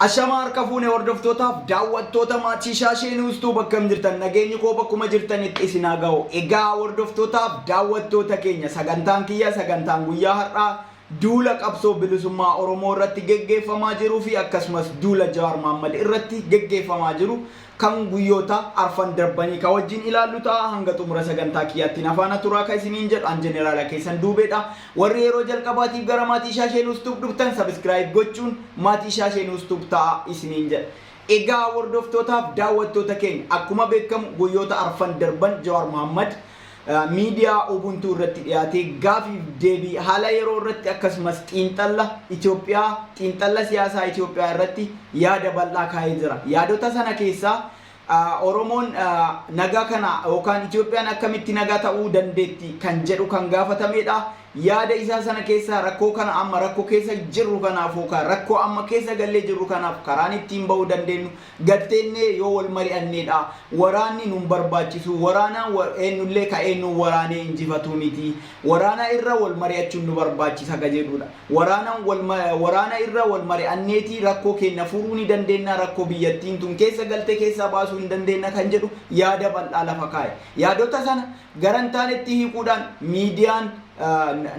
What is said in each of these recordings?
Ashamaa harka fuune hordoftootaaf daawwattoota maatii shaashee nuustuu bakka hin jirtan nageenyi koo bakkuma jirtanitti isin haa ga'u. Egaa hordoftootaaf daawwattoota keenya sagantaan kiyya sagantaan guyyaa har'aa duula qabsoo bilisummaa Oromoo irratti geggeeffamaa jiruu fi akkasumas duula Jawaar Mohaammed irratti geggeeffamaa jiru kan guyyoota arfan darbanii ka wajjin ilaallu ta'a. Hanga xumura sagantaa kiyyaatti na faana turaa ka isiniin jedhu an jeneraala keessan duubeedha. Warri yeroo jalqabaatiif gara maatii shaashee nuus tuub dhuftan sabiskiraayib gochuun maatii shaashee nuus tuub ta'a isiniin jedha. Egaa hordoftootaaf daawwattoota keenya akkuma beekamu guyyoota arfan darban Jawaar Mohammad miidiyaa Ubuntu irratti dhiyaate gaafiif deebii haala yeroo irratti akkasumas xiinxalla Itoophiyaa xiinxalla siyaasaa Itoophiyaa irratti yaada bal'aa kaa'ee jira. Yaadota sana keessaa Oromoon nagaa kana yookaan Itoophiyaan akkamitti nagaa ta'uu dandeetti kan jedhu kan gaafatamedha. Yaada isaa sana keessaa rakkoo kana amma rakkoo keessa jirru kanaaf yookaan rakkoo amma keessa gallee jirru kanaaf karaan ittiin ba'uu dandeenyu Gad teennee yoo wal mari'annee dha. Waraanni nu hin barbaachisu. Waraanaan wa, eennu illee ka eennuun waraanee injifatu miti. Waraana irra wal mari'achuun nu barbaachisa ka jedhuu dha. Waraanan wal ma, waraana irra wal mari'anneeti rakkoo keenna furuu ni dandeenna, rakkoo biyyattiin tun keessa galte keessaa baasuu hin dandeenna kan jedhu yaada bal'aa lafa kaa'e. Yaadota sana gara hin taanetti hiikuudhaan miidiyaan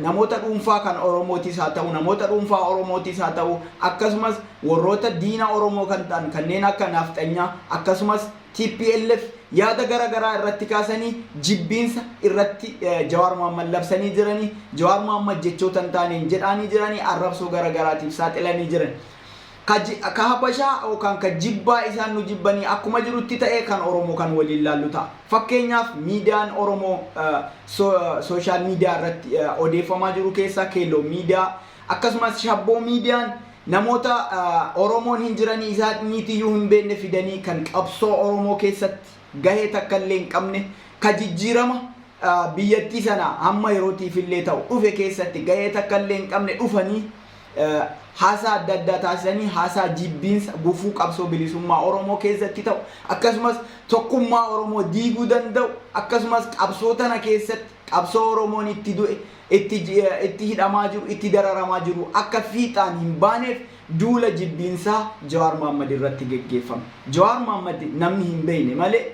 namoota dhuunfaa kan Oromootis haa ta'u namoota dhuunfaa Oromootis haa ta'u akkasumas warroota diina Oromoo kan ta'an kanneen akka naafxanyaa akkasumas TPLF yaada gara garaa irratti kaasanii jibbiinsa irratti Jawaar Mohammad labsanii jiranii Jawaar Mohammad jechoota hin taaneen jedhaanii jiranii arrabsoo gara garaatiif saaxilanii jiran. Ka ji, ka Habashaa yookaan ka jibbaa isaan nu jibbanii akkuma jirutti ta'ee kan Oromoo kan waliin laallu ta'a. Fakkeenyaaf miidiyaan Oromoo so, social media irratti odeeffamaa jiru keessaa Keelloo Miidiyaa akkasumas Shabboo Miidiyaan namoota Oromoon hin jiranii isaaniitiyyuu hin beekne fidanii kan qabsoo Oromoo keessatti gahee takka illee hin qabne ka jijjiirama biyyattii sana hamma yerootiif illee ta'u dhufe keessatti gahee takka illee hin qabne dhufanii haasaa adda addaa taasisanii haasaa jibbiinsa gufuu qabsoo bilisummaa Oromoo keessatti ta'u akkasumas tokkummaa Oromoo diiguu danda'u akkasumas qabsoo tana keessatti qabsoo Oromoon itti du'e, itti itti hidhamaa jiru, itti dararamaa jiru akka fiixaan hin baaneef duula jibbiinsaa Jawaar Mohammed irratti geggeeffame. Jawaar Mohammed namni hin beekne malee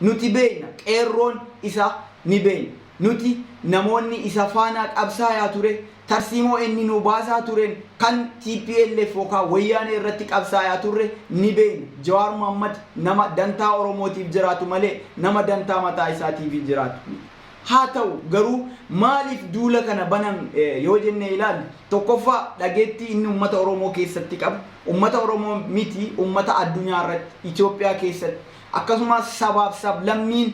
Nuti beekna, qeerroon isa ni beekna. Nuti namoonni isa faana qabsaayaa ture, tarsiimoo inni nu baasaa tureen kan tplf yookaan Wayyaanee irratti qabsaayaa turre ni beekna. Jawaar Mohammad nama dantaa Oromootiif jiraatu malee nama dantaa mataa isaatiif jiraatu miti. Haa ta'u garuu maaliif duula kana banan yoo jennee ilaalle, tokkoffaa dhageettii inni ummata Oromoo keessatti qabu, ummata Oromoo miti ummata addunyaa irratti, Itoophiyaa keessatti, Akkasumas sabaaf sablammiin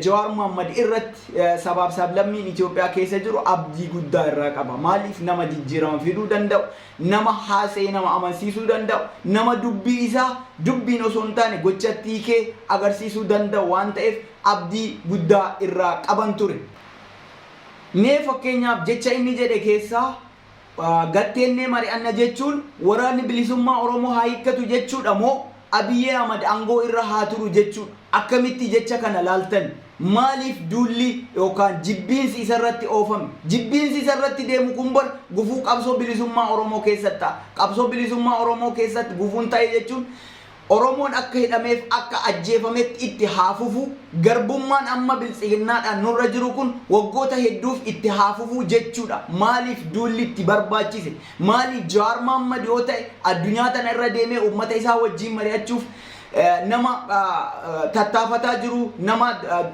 Jawaar Mohammed irratti sabaaf sablammiin Itoophiyaa keessa jiru abdii guddaa irraa qaba. Maaliif nama jijjiirama fiduu danda'u, nama haasa'ee nama amansiisuu danda'u, nama dubbii isaa dubbiin osoo hin taane gochatti hiikee agarsiisuu danda'u waan ta'eef abdii guddaa irraa qaban ture. Mee fakkeenyaaf jecha inni jedhe keessaa Gatteennee mari'anna jechuun waraanni bilisummaa Oromoo haa hiikkatu jechuudha moo Abiy Ahmad angoo irra haa turu jechuu akkamitti jecha kana laaltan? Maaliif duulli yookaan jibbiinsi isarratti oofame? Jibbiinsi isarratti deemu kun bar gufuu qabsoo bilisummaa Oromoo keessatti ta'a. Qabsoo bilisummaa Oromoo keessatti gufuun ta'e jechuun Oromoon akka hidhameef akka ajjeefametti itti haa fufu, garbummaan amma biltsiginnaadhaan nurra jiru kun waggoota hedduuf itti haa fufu jechuudha. Maaliif duulli itti barbaachise? Maali Jawaar Mahaammad yoo ta'e addunyaa tana irra deemee uummata isaa wajjiin mari'achuuf nama tattaafataa jiru, nama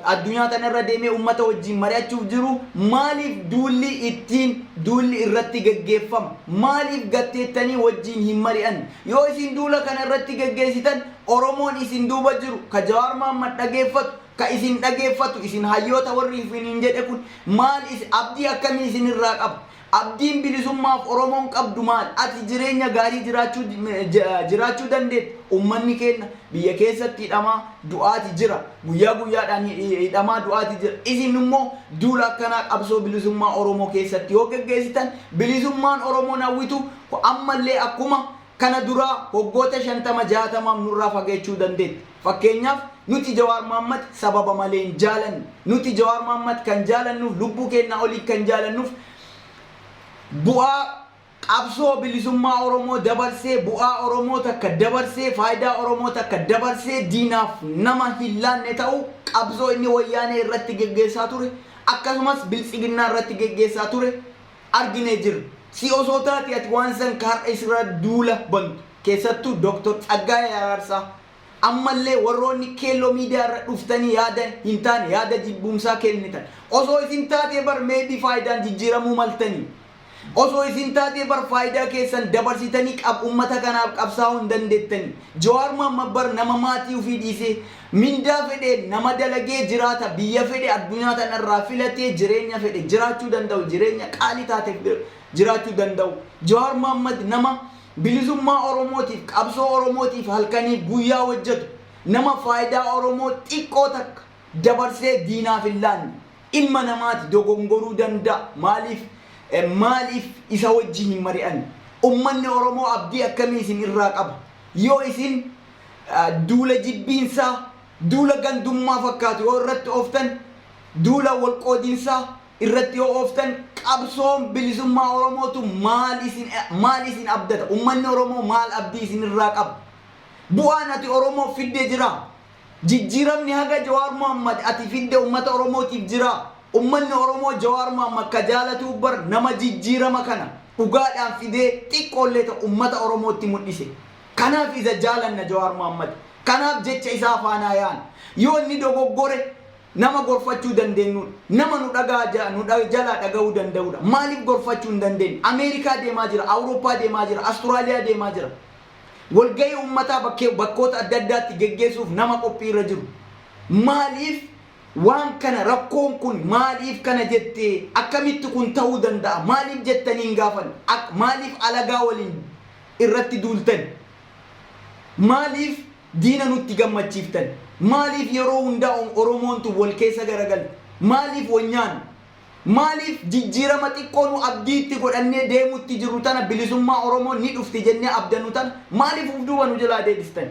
addunyaa tana irra deemee uummata wajjiin mari'achuuf jiru, maaliif duulli ittiin duulli irratti gaggeeffama? Maaliif gatteettanii wajjiin hin mari'anne? Yoo isin duula kana irratti geggeessitan Oromoon isin duuba jiru ka Jawaar Mahaammad dhageeffatu ka isin dhageeffatu isin hayyoota warri ifiniin jedhe kun maal is abdii akkamii isin irraa qaba? Abdiin bilisummaaf Oromoon qabdu maal? Ati jireenya gaarii jiraachuu jiraachuu dandeetta? Ummanni keenna biyya keessatti hidhamaa du'aati jira. Guyyaa guyyaadhaan hidhamaa du'aati jira. Isin immoo duula akkanaa qabsoo bilisummaa Oromoo keessatti yoo geggeessitan bilisummaan Oromoon hawwitu Kun ammallee akkuma kana duraa waggoota 50, 60f nurraa fageechuu dandeetti. Fakkeenyaaf, nuti Jawaar Mohammed sababa malee hin jaalannu. Nuti Jawaar Mohammed kan jaalannuuf, lubbuu keennaa olii kan jaalannuuf, bu'aa qabsoo bilisummaa Oromoo dabarsee, bu'aa Oromoo takka dabarsee, faayidaa Oromoo takka dabarsee diinaaf nama hin laanne ta'uu, qabsoo inni Wayyaanee irratti geggeessaa ture, akkasumas Biltsiginnaa irratti geggeessaa ture, arginee jirra. Si osoo taatee ati waan san ka har'a isirraa duula bantu, keessattuu Dr. Tsaggaayee Araarsaa, ammallee warroonni Keelloo Miidiyaa irra dhuftanii yaada hin taane, yaada jibbuumsaa kennitan, osoo isin taatee bar may be faayidaan jijjiiramuu maltanii. Osoo isin taatee bar faayidaa keessan dabarsitanii qab ummata kanaaf qabsaawuu hin dandeettanii. Jawaar Mohammed bar nama maatii ufii dhiisee, Mindaa fedheen nama dalagee jiraata biyya fedhe addunyaa tana irraa filatee jireenya fedhe jiraachuu danda'u jireenya qaalii taate jiraachuu danda'u Jawaar Mohammed nama bilisummaa Oromootiif qabsoo Oromootiif halkanii guyyaa hojjetu nama faayidaa Oromoo xiqqoo takka dabarsee diinaaf hin laanne ilma namaati dogongoruu danda'a maaliif maaliif isa wajjin hin mari'anne ummanni Oromoo abdii akkamii isin irraa qaba yoo isin duula jibbiinsaa, duula gandummaa fakkaatu yoo irratti ooftan, duula wal qoodinsaa irratti yoo ooftan qabsoon bilisummaa Oromootu maal isin maal isin abdata? Ummanni Oromoo maal abdii isin irraa qaba? Bu'aan ati Oromoof fidde jiraa? Jijjiiramni haga Jawaar Mohammad ati fidde ummata Oromootiif jiraa? Ummanni Oromoo Jawaar Mohammad ka jaalatuu bar nama jijjiirama kana dhugaadhaan fidee xiqqoollee ta'u ummata Oromootti mudhise. Kanaaf isa jaalanna Jawaar Mohammad. Kanaaf jecha isaa faanaa yaana. Yoo inni dogoggore nama gorfachuu dandeennuudha. Nama nu dhagaha ja nu dha jalaa dhagahuu danda'uudha. Maaliif gorfachuu hin dandeenye? Ameerikaa deemaa jira, Awurooppaa deemaa jira, Asturaaliyaa deemaa jira. Walgahii ummataa bakkee bakkoota adda addaatti geggeessuuf nama qophii irra jiru. Maaliif waan kana rakkoon kun maaliif kana jette akkamitti kun ta'uu danda'a maaliif jettanii hin gaafanne? Ak maaliif alagaa waliin irratti duultan? Maaliif diina nutti gammachiiftan? Maaliif yeroo hundaa Oromoon tun wal keessa garagalti? Maaliif wal nyaanna? Maaliif jijjiirama xiqqoo nu abdii itti godhannee deemutti jirru tana bilisummaa Oromoo ni dhufti jennee abdannu tana maaliif uf duuba nu jalaa deebistan?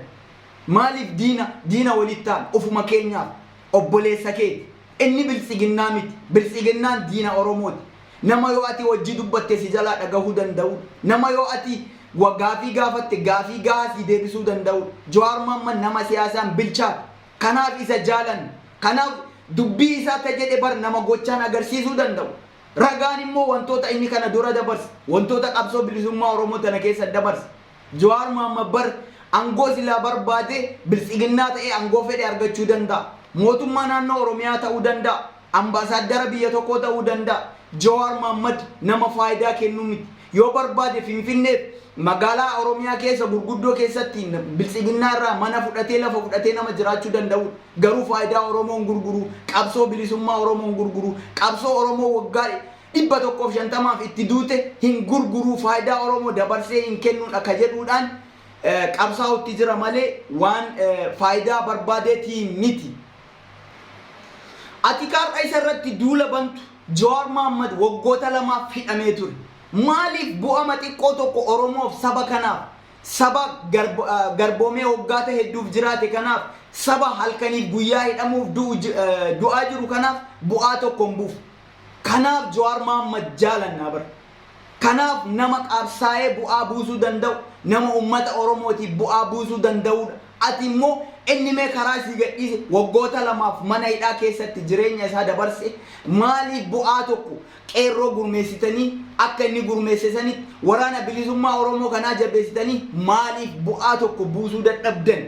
Maaliif diina diina walitti taana? Ofuma keenyaaf. Obboleessa keeti. Inni Biltsiginnaa miti. Biltsiginnaan diina Oromooti. Nama yoo ati wajjii dubbatte si jalaa dhagahuu danda'u, nama yoo ati wa gaafii gaafatte gaafii gahaa sii deebisuu danda'u. Jawaar Mohammed nama siyaasaan bilchaate. Kanaaf isa jaalanna. Kanaaf dubbii isaa ta jedhe bar nama gochaan agarsiisuu danda'u. Ragaan immoo wantoota inni kana dura dabarse, wantoota qabsoo bilisummaa Oromoo tana keessa dabarse, Jawaar Mohammed bar angoo silaa barbaade biltsiginnaa ta'ee angoo fedhe argachuu danda'a. Mootummaa naannoo Oromiyaa ta'uu danda'a. Ambaasaaddara biyya tokkoo ta'uu danda'a. Jawaar Mohammed nama faayidaa kennu miti. Yoo barbaade Finfinneef magaalaa Oromiyaa keessa gurguddoo keessatti biltsiginnaa irraa mana fudhatee lafa fudhatee nama jiraachuu danda'uudha. Garuu faayidaa Oromoo hin gurguru, qabsoo bilisummaa Oromoo hin gurguru, qabsoo Oromoo waggaa 150f itti duute hin gurguruu faayidaa Oromoo dabarsee hin kennuudha ka jedhuudhaan qabsaa'utti jira malee waan faayidaa barbaadeetii miti. Ati ka har'a isa irratti duula bantu Jawaar Mahaammad waggoota lamaaf hidhamee ture. Maaliif bu'ama xiqqoo tokko Oromoof saba kanaaf saba garboomee waggaata hedduuf jiraate kanaaf saba halkaniif guyyaa hidhamuuf du'aa jiru kanaaf bu'aa tokko hin buufne. Kanaaf Jawaar Mahaammad jaalannaa bar. Kanaaf nama qabsaa'ee bu'aa buusuu danda'u, nama ummata Oromootiif bu'aa buusuu danda'uudha. Ati immoo inni mee karaa sii gadhiise waggoota lamaaf mana hidhaa keessatti jireenya isaa dabarse maaliif bu'aa tokko qeerroo gurmeessitanii akka inni gurmeesse sanitti waraana bilisummaa Oromoo kanaa jabeessitanii maaliif bu'aa tokko buusuu dadhabdan?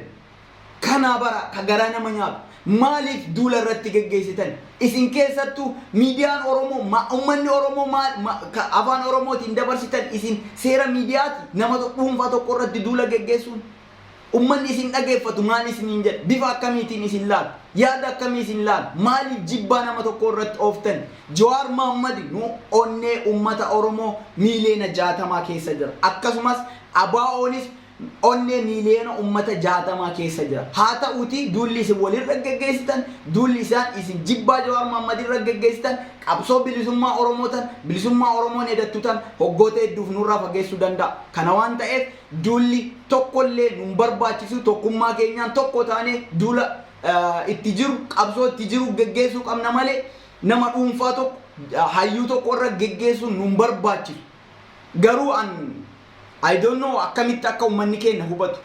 kanaa baraa ka garaa nama nyaatu maaliif duula irratti geggeessitan isin keessattuu miidiyaan oromoo ma ummanni oromoo maal ma ka afaan oromootiin dabarsitan isin seera miidiyaati nama to- dhuunfaa tokko irratti duula geggeessuun ummanni isin dhageeffatu maal isiniin jedha bifa akkamiitiin isin laala yaada akkamii isin laala maaliif jibbaa nama tokko irratti ooftan jawaar maammadi nu onnee ummata oromoo miiliyoona jaatamaa keessa jira akkasumas abaa'oonis onnee miiliyoona ummata 60 keessa jira. Haata'uutii duulli isin wal irra geggeessitan, duulli isaan isin jibbaa Jawaar Mohammed irra geggeessitan, qabsoo bilisummaa Oromoo tan bilisummaa Oromoon edattu tan hoggoota hedduuf nurraa fageessuu danda'a. Kana waan ta'eef duulli tokkollee nun barbaachisu tokkummaa keenyaan tokko taanee duula itti jiru, qabsoo itti jiru geggeessuu qabna malee nama dhuunfaa tokko, hayyuu tokko irra geggeessuun nun barbaachisu. Garuu an. I don't know akkamitti akka ummanni keenna hubatu.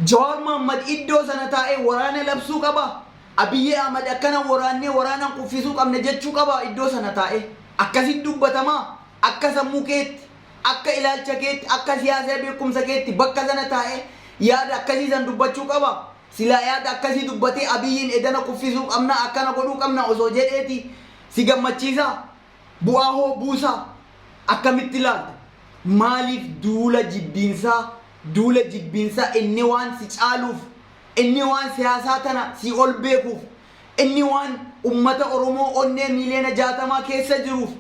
Jawaar Mohammed iddoo sana taa'ee waraana labsuu qaba? Abiyyi Ahmed akkana waraannee waraanaan kuffisuu qabna jechuu qaba iddoo sana taa'ee? Akkasitti dubbatamaa? Akka sammuu keetti, akka ilaalcha keetti, akka siyaasa beekumsa keetti bakka sana taa'ee yaada akkasii san dubbachuu qaba? Silaa yaada akkasii dubbatee Abiyyiin edana kuffisuu qabna akkana godhuu qabna osoo jedheeti si gammachiisaa? Bu'aa hoo buusaa? Akkamitti ilaalta? Maaliif duula jibbiinsaa, duula jibbiinsaa inni waan si caaluuf, inni waan siyaasaa tana sii ol beekuuf, inni waan ummata Oromoo onnee miiliyoona jaatamaa keessa jiruuf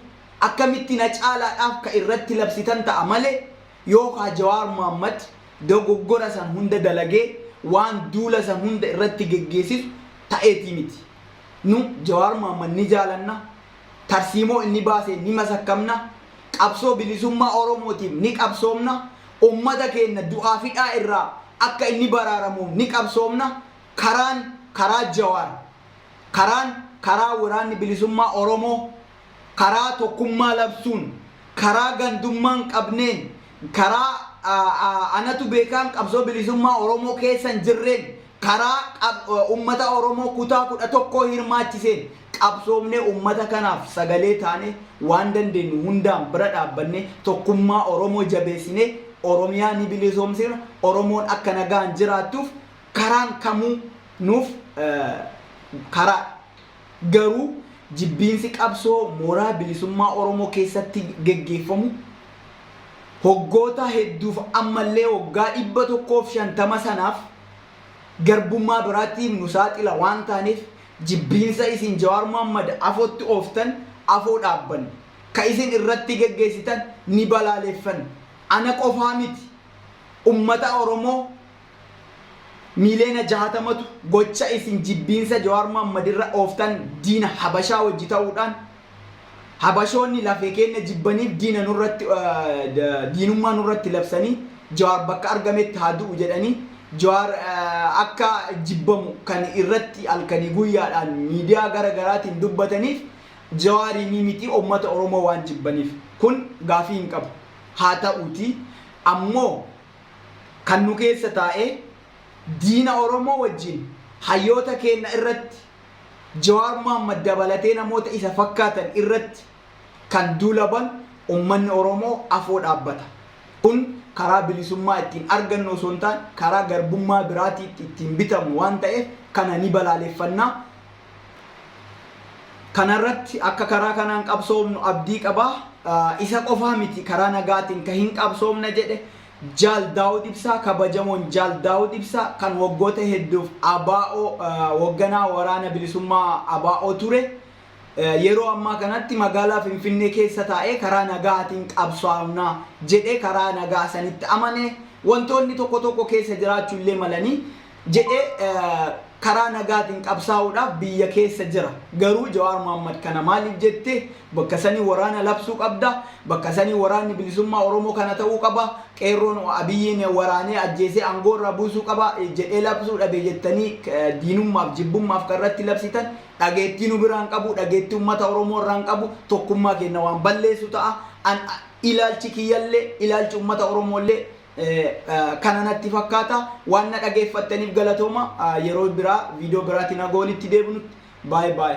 akkamitti na caalaadhaaf ka irratti labsitan ta'a malee yoo kaa Jawaar Mohammed dogoggora san hunda dalagee waan duula san hunda irratti geggeessisu ta'eeti miti. Nu Jawaar Mohammed ni jaalanna. tarsiimoo inni baaseen ni masakkamna, qabsoo bilisummaa Oromootiif ni qabsoomna, ummata keenna du'aaf hidhaa irraa akka inni baraaramuuf ni qabsoomna, karaan karaa Jawaar, karaan karaa Waraanni Bilisummaa Oromoo, karaa tokkummaa labsuun, karaa gandummaa hin qabneen, karaa anatu beekaan qabsoo bilisummaa Oromoo keessa hin jirreen karaa qab ummata Oromoo kutaa 11 hirmaachiseen qabsoomnee ummata kanaaf sagalee taanee waan dandeenyu hundaan bira dhaabbannee tokkummaa Oromoo jabeessinee Oromiyaa ni bilisoomsina, Oromoon akka nagaan jiraattuuf karaan kamuu nuuf karaa dha. Garuu jibbiinsi qabsoo mooraa bilisummaa Oromoo keessatti geggeeffamu hoggoota hedduuf ammallee waggaa 150 sanaaf, garbummaa biraatiif nu saaxila waan taaneef jibbiinsa isin Jawaar Mohammed afootti ooftan afoo dhaabbanna. Ka isin irratti geggeessitan ni balaaleffanna. Ana qofaa miti ummata Oromoo miiliyoona 60tu gocha isin jibbiinsa Jawaar Mohammed irra ooftan diina Habashaa wajji ta'uudhaan Habashoonni lafee keenna jibbaniif diina nurratti diinummaa nurratti labsanii Jawaar bakka argametti haa du'u jedhanii Jawaar akka jibbamu kan irratti halkanii guyyaadhaan miidiyaa gara garaatiin dubbataniif Jawaariinii miti ummata Oromoo waan jibbaniif kun gaafii hin qabu. Haa ta'uutii ammoo kan nu keessa taa'ee diina Oromoo wajjin hayyoota keenna irratti Jawaar Mohammad dabalatee namoota isa fakkaatan irratti kan duula banu ummanni Oromoo afoo dhaabbata. Kun karaa bilisummaa ittiin argannu osoo hin taane karaa garbummaa biraatiin ittiin bitamnu waan ta'eef kana ni balaaleffanna. Kana irratti akka karaa kanaan qabsoofnu abdii qaba. Isa qofaa miti karaa nagaatiin ka hin qabsoofna jedhe. Jaal Daawud Ibsaa Kabajamoon Jaal Daawud Ibsaa kan waggoota hedduuf ABO hogganaa Waraana Bilisummaa ABO ture, yeroo ammaa kanatti magaalaa Finfinnee keessa taa'ee karaa nagaatiin qabsoofna jedhee karaa nagaa sanitti amane, wantoonni tokko tokko keessa jiraachuu illee malanii jedhe karaa nagaatiin qabsaa'uudhaaf biyya keessa jira. Garuu Jawaar Mohammed kana maaliif jette? Bakka sanii waraana labsuu qabda. Bakka sanii waraanni bilisummaa Oromoo kana ta'uu qaba. Qeerroon Abiyyiin waraanee ajjeesee aangoo irraa buusuu qaba jedhee labsuu dhabe jettanii diinummaaf, jibbummaaf kan irratti labsitan dhageettii nu biraa hin qabu, dhageettii uummata Oromoo irraa hin qabu, tokkummaa keenya waan balleessu ta'a. An ilaalchi kiyyallee, ilaalchi uummata Oromoo illee kana natti fakkaata waan na dhageeffattaniif galatooma yeroo biraa viidiyoo biraatiin haga walitti deebinutti baay baay.